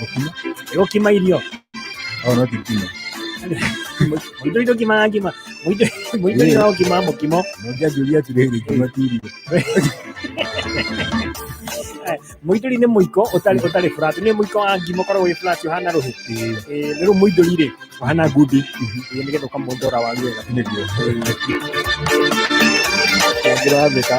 Gũkima. Gũkima irio. Oh, no tikima. Mũindo indo kima ngima. Mũindo mũindo Yeah. indo kima mũkimo. Mũndũ anjũria atĩrĩrĩ, ngima ti irio. Mũindũri nĩ mũiko ũtarĩ ũtarĩ flat. Nĩ mũiko wa ngima ũkoragwo wĩ flat ũhana rũhĩ. Ĩĩ, Eh, nĩ rĩu mũindũri rĩ ũhana ngundi. Eh, Nĩgetha ũkamũndora waru wega. nĩguo. Kĩangĩra watheka.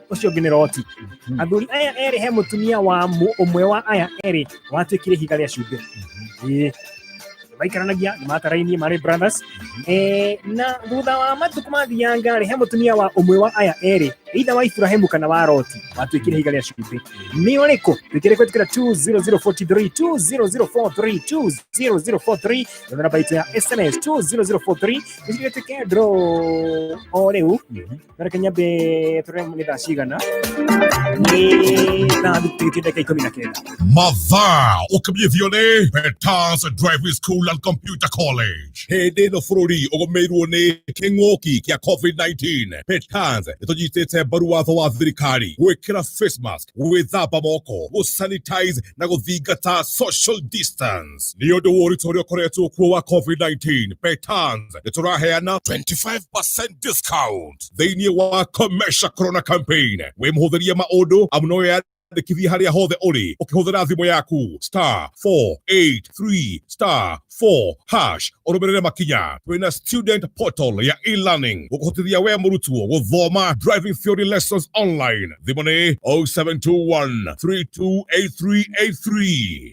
ucio ngi ni roti athuri aya eri he mutumia wa mu- umwe wa aya eri watuikire higa ria cumbi Ĩĩ. maikaranagia nĩ matarainie marĩ brothers Eh, na thutha wa matukũ mathianga rĩ he mũtumia wa ũmwe wa aya erĩ either wa iburahĩmu kana wa roti watuĩkire higa rĩa cumbĩ nĩ ũrĩkũ twĩkĩre kwĩtĩkĩra 20043 20043 20043 namba itũ ya sms 20043 nĩcigĩtuĩke ndro o rĩu Bara kenya mbĩ tũremwo nĩ thaa cigana nĩ thaa thikĩtie ndagĩka ikũmi na kenda mathaa ũkinyithio nĩ Peters Driving School and Computer College hĩndĩ ĩno bũrũri ũgũmĩirwo nĩ kĩng'ũki kĩa COVID-19 Peters nĩtũnyitĩte mbaru watho wa thirikari gwĩkĩra face mask gwĩthamba moko gũsanitize na gũthingata social distance Petans nĩ ũndũ wa ũritũ ũrĩa ũkoretwo kuo wa COVID-19. Petans nĩ tũraheana 25% discount thĩinĩ wa Comesha Corona Campaign. Wĩmũhũthĩrie maũndũ amu no wĩyandĩkithie harĩa hothe ũrĩ ũkĩhũthĩra thimũ yaku star 483 star 4 hash ũrũmĩrĩre makinya twĩna student portal ya e-learning gũkũhotithia we mũrutwo gũthoma driving theory lessons online thimũ nĩ 0721 328383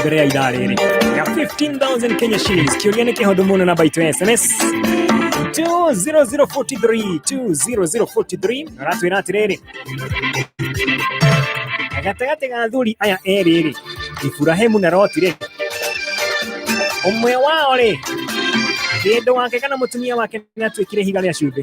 mbere ya ithaa rĩrĩ ya 15000 kenya shillings kĩũria nĩ kĩhũthũ mũno namba itũ ya sms 20043 20043 aratwĩra atĩrĩrĩ gatagatĩ ga athuri aya erĩ rĩ iburahimu na roti rĩ ũmwe wao rĩ kĩndũ wake kana mũtumia wake nĩ atuĩkire ihiga rĩa cumbĩ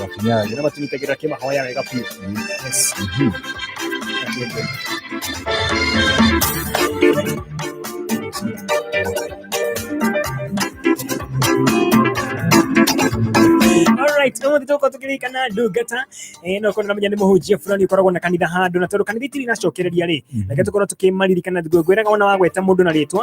Wakinyaga. Naomba tunitegera kima hoya wega pia. Yes. Mhm. Alright, ũmũthĩ tũgũkorwo tũkĩririkana ndungata eh, no korwo na mũthenya nĩ mũhunjia fulani ũkoragwo na kanitha handũ na tondũ kanitha itirĩ iracokereria rĩ reke tũkorwo tũkĩmaririkana ngwĩraga wona wagweta mũndũ na rĩtwa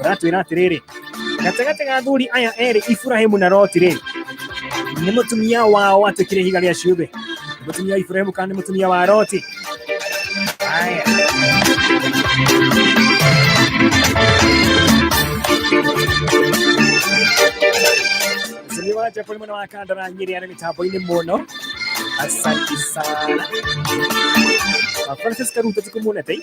ratwira atiriri gatagati ga athuri aya eri ifurahimu na roti riri ni mutumia wao atukire higa ria ciumbe mutumia wa ifurahimu kana ni mutumia wa roti aya Msanii wa Japo ni mwana wa kanda na nyeri ana mitambo ini muno asante sana Francis Karuta tukumuna tai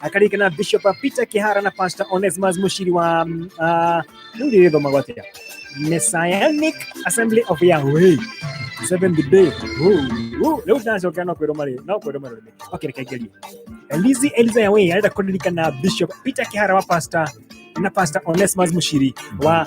akarike na bishop peter kihara na pastor onesmus mushiri wa mm, ah, rĩu rĩrĩ thoma gwatia messianic assembly of yahweh seventh day rĩu ndacokera no kwĩrwo marĩ no kwĩrwo marĩ okay reke ngerie elizi eliza yahweh arenda kũririkana bishop peter kihara wa pastor na pastor onesmus mushiri wa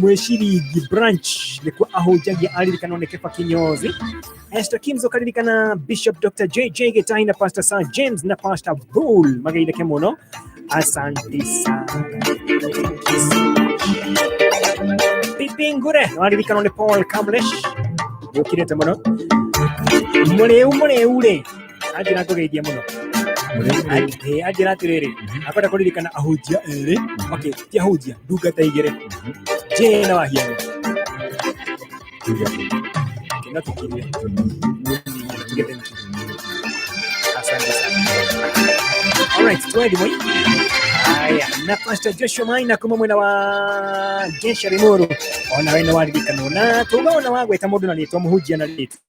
mwishirigi branch nikuo ahunjagia aririkana nĩ kĩba kĩnyozi Esther Kims ũkaririkana Bishop Dr. JJ Gĩtahi na Pastor Sir James na Pastor Bull mageitheke mũno asante sana Pipi Ngure waririkana nĩ Paul Kamlesh ũkirĩte mũno mũrĩu mũrĩu rĩ anjĩra ngũgeithie mũno Eh, anjĩra atĩrĩrĩ akwenda kũririkana ahunjia erĩ okay ti ahunjia ndungata igĩrĩ njĩ na wahiano Okay, no tũkirie Tũgete niki. Asante sana. Alright, twende moi. Haya, na Pastor Joshua Maina kuma mwena wa Gesha Rimuru. Ona wena waririkana na tugaona wagweta mundu na ritwa muhunjia na ritwa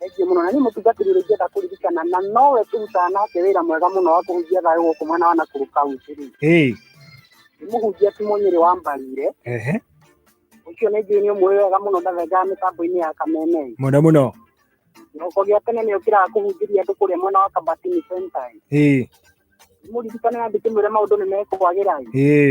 Thengiũ mũno na niĩ mũtungatĩri ũrĩa ingĩenda kũririkana na nowe tũrutaga nake wĩra mwega mũno wa kũhunjia thayũ gũkũ mwena wa Nakuru County rĩ Hey. nĩ mũhunjia ti mũnyĩrĩ wa mbarire Ehe. ũcio nĩ njũĩ nĩ ũmũĩ wega mũno ndathengaga mĩtambo-inĩ ya kameme Mũno mũno. kĩroko gĩa tene nĩ ũkĩraga kũhunjĩria andũ kũrĩa mwena wa kabatini center Hey. mũririkane andũ kĩmwĩre maũndũ nĩ mekũagĩra Hey.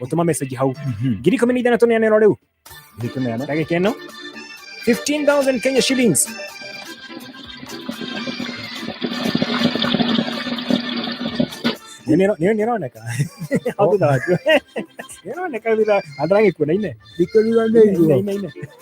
gũtũma message hau ngiri ikũmi na ithano tũneanĩrwo rĩu ndagĩka ĩno 15000 kenya shillings nĩroneka hau thutha waku nĩroneka thutha andũ aragĩkuona ine Nĩkũriganĩirwo. ine ine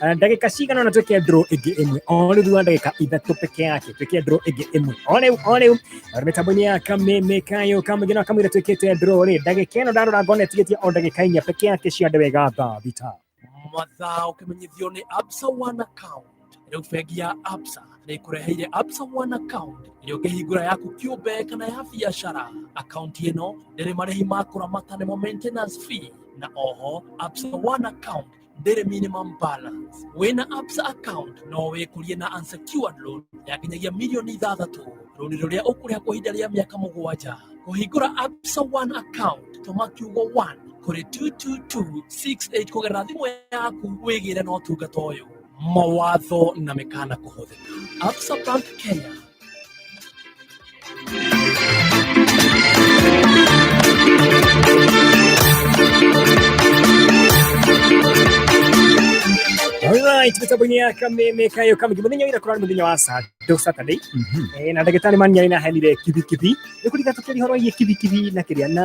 Ah, ndagika cigana ona twike ndro ingi imwe o riu thutha ndagika ithatu peke yake twike ndro ingi imwe o riu o riu mitambo-ini ya kameme kayo kamugina akamwira twikite ndro ri ndagika ino ndarora ngona itigitie o ndagika inya peke yake ciande wega thaa thita mathaa ũkĩmenyithio nĩ absa one account rĩu bengi ya absa nĩ ĩkũreheire absa one account ĩrĩa ũngĩhingũra yaku kĩũmbe kana ya biacara akaunti ĩno ndĩrĩ marĩhi ma kũramata nĩmo maintenance fee na oho absa one account bare minimum balance wĩna absa account no wĩkũrie na unsecured loan ya nginyagia mirioni ithathatũ rũni rũrĩa ũkũrĩha kwa ihinda rĩa mĩaka mũgwanja kũhingũra absa one account tũma kiugo one kũrĩ 22268 kũgerera thimũ yaku wĩgĩre na ũtungata ũyũ mawatho na mĩkana kũhũthĩka absa bank kenya Alright, mĩtambo ya kameme kayo kamgi muthenya wira kurani muthenya wa Saturday Saturday eh na ndagĩtarĩ mani arĩ na henire kibi kibi nĩ kũrika tũkĩri horo iye kibi kibi na kĩrĩa na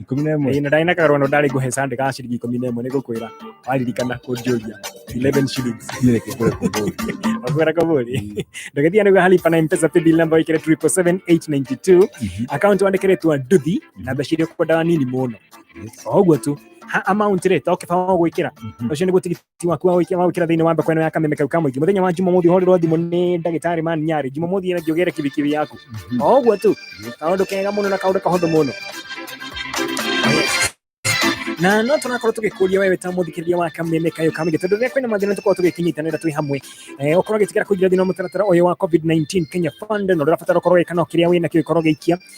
ikumi na ĩmwe Ĩĩ, na ndarĩ na kagarũano ndarĩ ngũhe sande ka ciringi ikũmi na ĩmwe nĩ ngũkwĩra waririkana kũnjũria 11 shillings niĩ reke ngũre kũmbũri wakwĩra kabũri ndũgĩthiga nĩguo halipa na mpesa paybill number wĩkĩre 77892 account wandĩkĩre twa nduthi na mbeca iria ũkwendaga nini mũno o ũguo tu ha amount rĩ to kĩbao gwĩkĩra ũcio nĩ gũtigithia ti waku wa gwikia wa gwikira thiini wa mbeko ino ya kameme kau ka muingi muthenya wa jumamothi uhorerwo thimu ni ndagitari man nyari jumamothi ina ngiugire kibikibi yaku o uguo tu kaundu kega muno na kaundu kahuthu muno na no tũrakorwo tũgĩkũria wewe ta mũthikĩrĩria wa kameme kayo kamĩngĩ tondũ rĩrĩa kwĩna mathĩna tũkorwo tũgĩkĩnyitanĩra twĩ hamwe eh, ũkorwo ũgĩtigĩra kũingĩra thĩna wa mũtaratara ũyũ wa covid-19 kenya fund na ũrĩa ũrabatara ũkorwo gĩkana kĩrĩa wĩna kĩo gĩkorwo gĩikia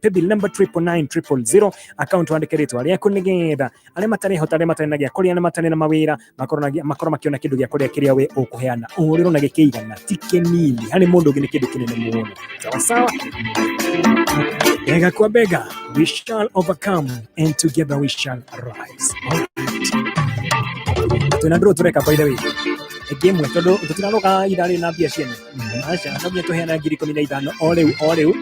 paybill number triple nine triple zero account wandike ritwa riaku nigetha aria matarihota aria matari na gia kuria aria matari na mawira makorwo na gia- makorwo makiona kindu gia kuria kiria we ukuheana uhuriro na gikigana ti kinini hani mundu ungi ni kindu kinene muno sawa sawa bega kwa bega we shall overcome and together we shall rise twina nduru tureka by the way ĩngĩ ĩmwe tondũ tũtiraroga irarĩ na mbia ciene aca no nginya tũheana ngiri ikũmi na ithano o rĩu o rĩu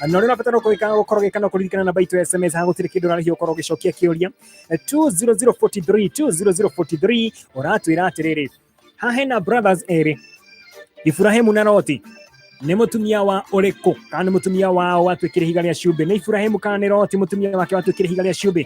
na ũrĩa ũrabatara gwĩka gũkorwo gĩka no kũririkana namba itũ ya sms haha gũtirĩ kĩndũ ũrarĩhio ũkorwo ũgĩcokia kĩũria 20043 20043 ũratwĩra atĩrĩrĩ haha hena brothers erĩ Iburahĩmu na Loti nĩ mũtumia wa ũrĩkũ kana nĩ mũtumia wao watuĩkire ihiga rĩa cumbĩ nĩ Iburahĩmu kana nĩ Loti mũtumia wake watuĩkire ihiga rĩa cumbĩ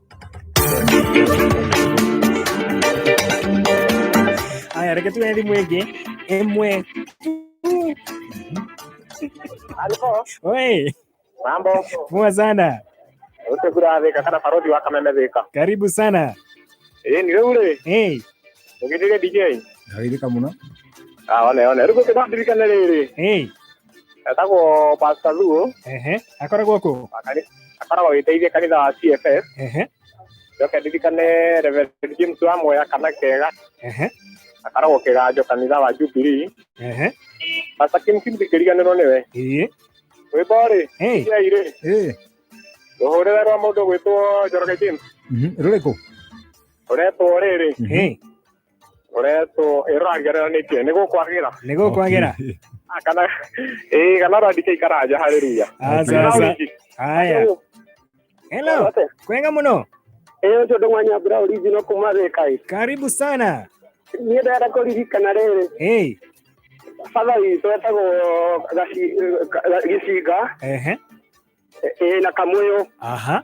Haya, reke tuwe na thimu ĩngĩ ĩmwe Halo, Oi, mambo poa sana, ute kura thika kana barodi wa kameme thika karibu sana ĩ ni rĩu rĩ hey. ũgĩthire DJ Ndagĩrĩka mũno. ah one one rĩu gũkĩndirikane rĩrĩ Hey. etagwo Pastor Luo ehe akoragwo kũ akari- akoragwo agĩteithia kanitha wa CFS ehe njoke ndirikane Reverend James wa Moya kana kega ehe akoragwo kĩganjo kanitha wa Jubilee ehe Pastor Kim Kim ndikĩriganĩrwo nĩwe ĩĩ rwĩmbo rĩ Hey. iai rĩ ĩĩ rũhũrĩre rwa mũndũ gwĩtwo Njoroge James Mhm, rũrĩkũ ũretwo rĩrĩ ĩĩ koretwo ĩrorangĩrĩra nĩkĩ nĩ gũkwagĩra nä gå kwagera Ah, kana ĩĩ kana randike ikaraja harĩ ruya asaasa haya helo kwega må no ĩyo ũcio ndũmwanya mbura ũringi no kuma thĩkai karibu sana niĩ ndenda kũririkana rĩrĩ hey. baba witũ etagwo Gaci- Ga- gĩcinga ehe ĩĩ na kamũyũ aha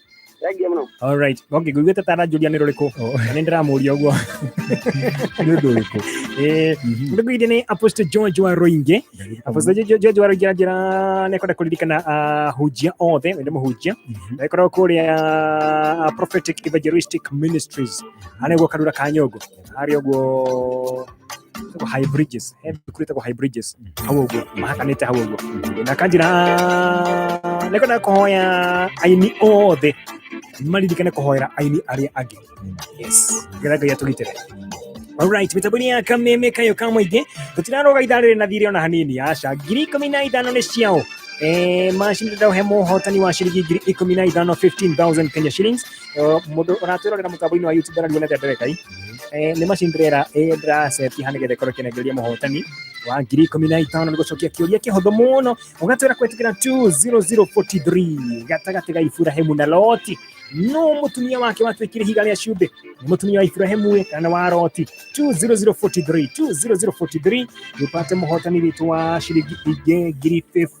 thengiå må no All right. Okay, ngũiguĩte ta aranjũria nĩ rũrĩkũ na nĩ ndĩramũria ũguo nĩ ũndũ ũrĩkũ Eh, ndĩkwĩire nĩ apostle george wa roingĩ apostle Jo- Jo- george wa roingĩ aranjĩra nĩ ekwenda kũririkana ahunjia othe nĩ mũhunjia na ĩkoragwo kũrĩa ah, prophetic evangelistic ministries anĩguo karura ka nyũngũ hari yo gu gu high bridges eh kuri ta gu high bridges hawo gu ma haka ne ta hawo gu na kanji na ne kana ko hoya aini othe mali dikana ko hoya aini ari agi yes gara ga yatugitere Alright, mitabuni ya kameme kayo kamo ige tutirano ga idare na thire ona hanini aca ngiri ikũmi na ithano nĩ ciao Eh, macindano he mũhotani wa ciringi ngiri ikũmi na ithano 15000 kenya shillings Eh, mundu ũratwĩrorera mũtambo-inĩ wa youtube arariwo nete mbere kai Eh, nĩ machine trailer ĩrĩa ndĩracetia haha nĩgetha ĩkorwo ĩkĩnengeria mũhotani wa ngiri ikũmi na itano nĩ gũcokia kĩũria kĩhũthũ mũno ũgatwĩra kwĩtĩkĩra 20043 gatagatĩ ga iburahimu na loti no mũtumia wake watuĩkire higa rĩa cumbĩ nĩ mũtumia wa iburahimu ĩ kana wa loti 20043 20043 tupate mũhotani witũ wa ciringi ingĩ ngiri 50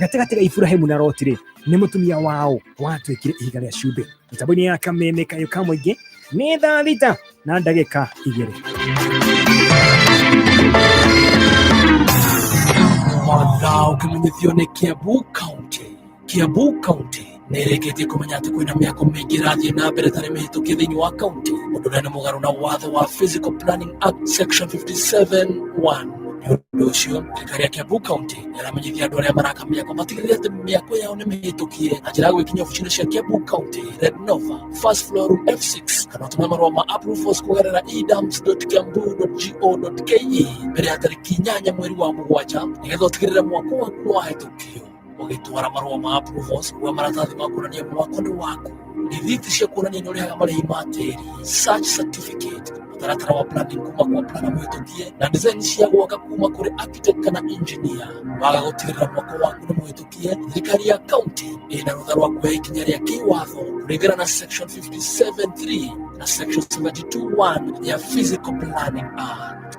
gatagatĩ ga Iburahimu na Loti rĩ nĩ mũtumia wao watuĩkire ihiga rĩa cumbĩ mĩtambo-inĩ ya kameme kayũ ka mũingĩ nĩ thaa thita na ndagĩka igĩrĩ Motha ũkimenyithio nĩ Kiambu County. Kiambu County nĩrĩkĩtie kũmenya atĩ kwĩna mĩako mĩingĩ ĩrathiĩ na mbere tarĩ mĩhĩtũkie thĩinĩ wa kaunti ũndũ ũrĩa nĩ mũgarũ na watho wa physical planning act section 57 1 nĩ ũndũ ũcio thirikari ya kiambu kaunti nĩramenyithia andũ arĩa maraka mĩako matigĩrĩre atĩ mĩako yao nĩ mĩhĩtũkie na njĩra ya gwĩkinyia obici-inĩ cia kiambu kaunti red nova first floor room f6 kana ũtũme marũa ma approvals kũgerera edams.kiambu.go.ke mbere ya tarĩki inyanya mweri wa mũgwanja nĩgetha ũtigĩrĩre mwako waku nĩ wahĩtũkio ũgĩtwara marũa ma approval ũcio wa maratathi ma kuonania mwako nĩ waku rithiti cia kuonania nĩ ũrĩhaga marĩhi ma tĩri search certificate mũtaratara wa planning kuma kwa plana mũhĩtũkie na design cia gwaka kuma kũrĩ architect kana engineer waga gũtigĩrĩra mwako waku nĩ mũhĩtũkie thirikari ya kaunti ĩna rũtha rwa kuoya ikinya rĩa kĩwatho kũringana na section 57.3 na section 72.1 ya physical planning act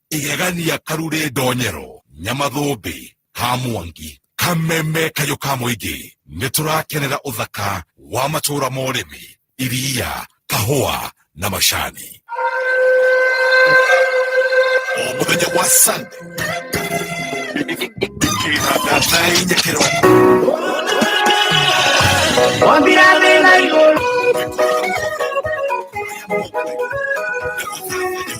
igegania karurĩ ndonyero nyamathũmbĩ ka mwangi kameme kayũ ka mũingĩ nĩ tũrakenera ũthaka wa matũũra ma ũrĩmi iria kahũa na macani o mũthenya wa sande kĩhanda thainya kĩroko Wambira thĩ na igũrũ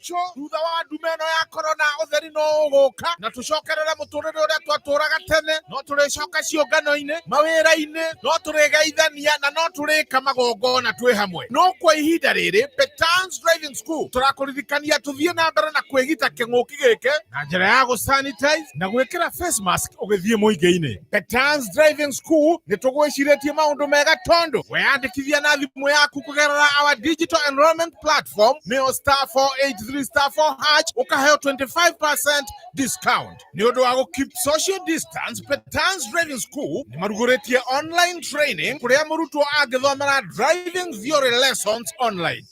gaucho thutha wa ndume ĩno ya korona ũtheri no ũgũka na tũcokerere mũtũrĩre ũrĩa twatũraga tene no tũrĩcoka ciũngano-inĩ mawĩra-inĩ no tũrĩgeithania na no tũrĩka magongona twĩ hamwe no kwa ihinda rĩrĩ Petans Driving matukũ tũrakũririkania tũthiĩ na mbere na kwĩgita kĩng'ũki gĩkĩ na njĩra ya gũsanitize na gwĩkĩra face mask ũgĩthiĩ mũingĩ-inĩ. Petans Driving School nĩ tũgwĩcirĩtie maũndũ mega tondũ weyandĩkithia na thimũ yaku kũgerera our digital enrollment platform nĩyo star 483 star 4 hash ũkaheo 25% discount nĩ ũndũ wa gũkeep social distance. Petans Driving School nĩ marugũrĩtie online training kũrĩa mũrutwo angĩthomera driving theory lessons online.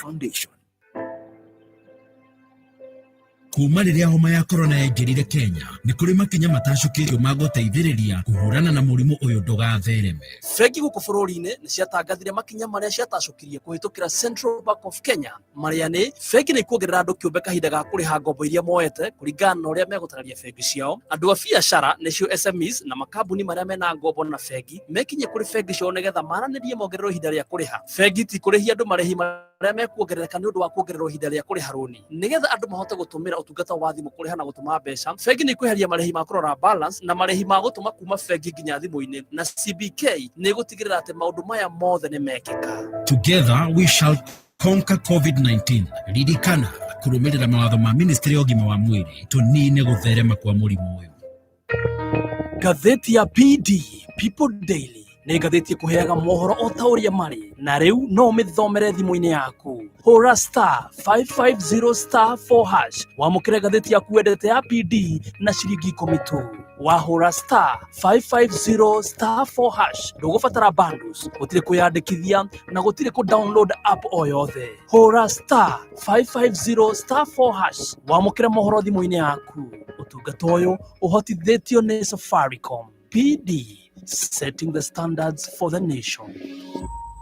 Foundation. kuma rĩrĩa homa ya korona yaingĩrire kenya nĩ kũrĩ makinya matacũkĩtio ma gũteithĩrĩria kũhũrana na mũrimũ ũyũ ndũgathereme bengi gũkũ bũrũri-inĩ nĩ ciatangathire makinya marĩa ciatacũkirie kũhĩtũkĩra central bank of kenya marĩa nĩ bengi nĩ kuongerera andũ kĩũmbe kahinda ga kũrĩha ngombo iria moete kũringana na ũrĩa megũtararia bengi ciao andũ a biacara nĩcio SMEs na makambuni marĩa mena ngombo na bengi mekinye kũrĩ bengi ciao nĩgetha maranĩrie mongererwo ihinda rĩa kũrĩha bengi ti kũrĩhia andũ marĩhi marĩa mekuongerereka nĩ ũndũ wa kuongererwo ihinda rĩa kũrĩha rũni nĩgetha andũ mahote gũtũmĩra ũtungata wa thimũ kũrĩha na gũtũma mbeca bengi nĩ ikweheria marĩhi ma kũrora balance na marĩhi ma gũtũma kuma bengi nginya thimũ-inĩ na CBK nĩ ĩgũtigĩrĩra atĩ maũndũ maya mothe nĩ mekĩka Together we shall Conquer COVID-19 ririkana kũrũmĩrĩra mawatho ma ministry ya ũgima wa mwĩrĩ tũnine gũtherema kwa mũrimũ ũyũ ngathĩti ya PD People Daily nĩ ngathĩti ĩkũheaga mohoro o ta ũrĩa marĩ na rĩu no ũmĩthomere thimũ-inĩ yaku hũra star 550 star 4 hash wamũkĩre ngathĩti yaku wendete ya PD na ciringi ikũmi tu wahũra star 550 star 4 hash ndũgũbatara bundles gũtirĩ kwĩyandĩkithia na gũtirĩ kũ download app o yothe hũra star 550 star 4 hash wamũkĩre mohoro thimũ-inĩ yaku ũtungata ũyũ ũhotithĩtio nĩ safaricom pd setting the standards for the nation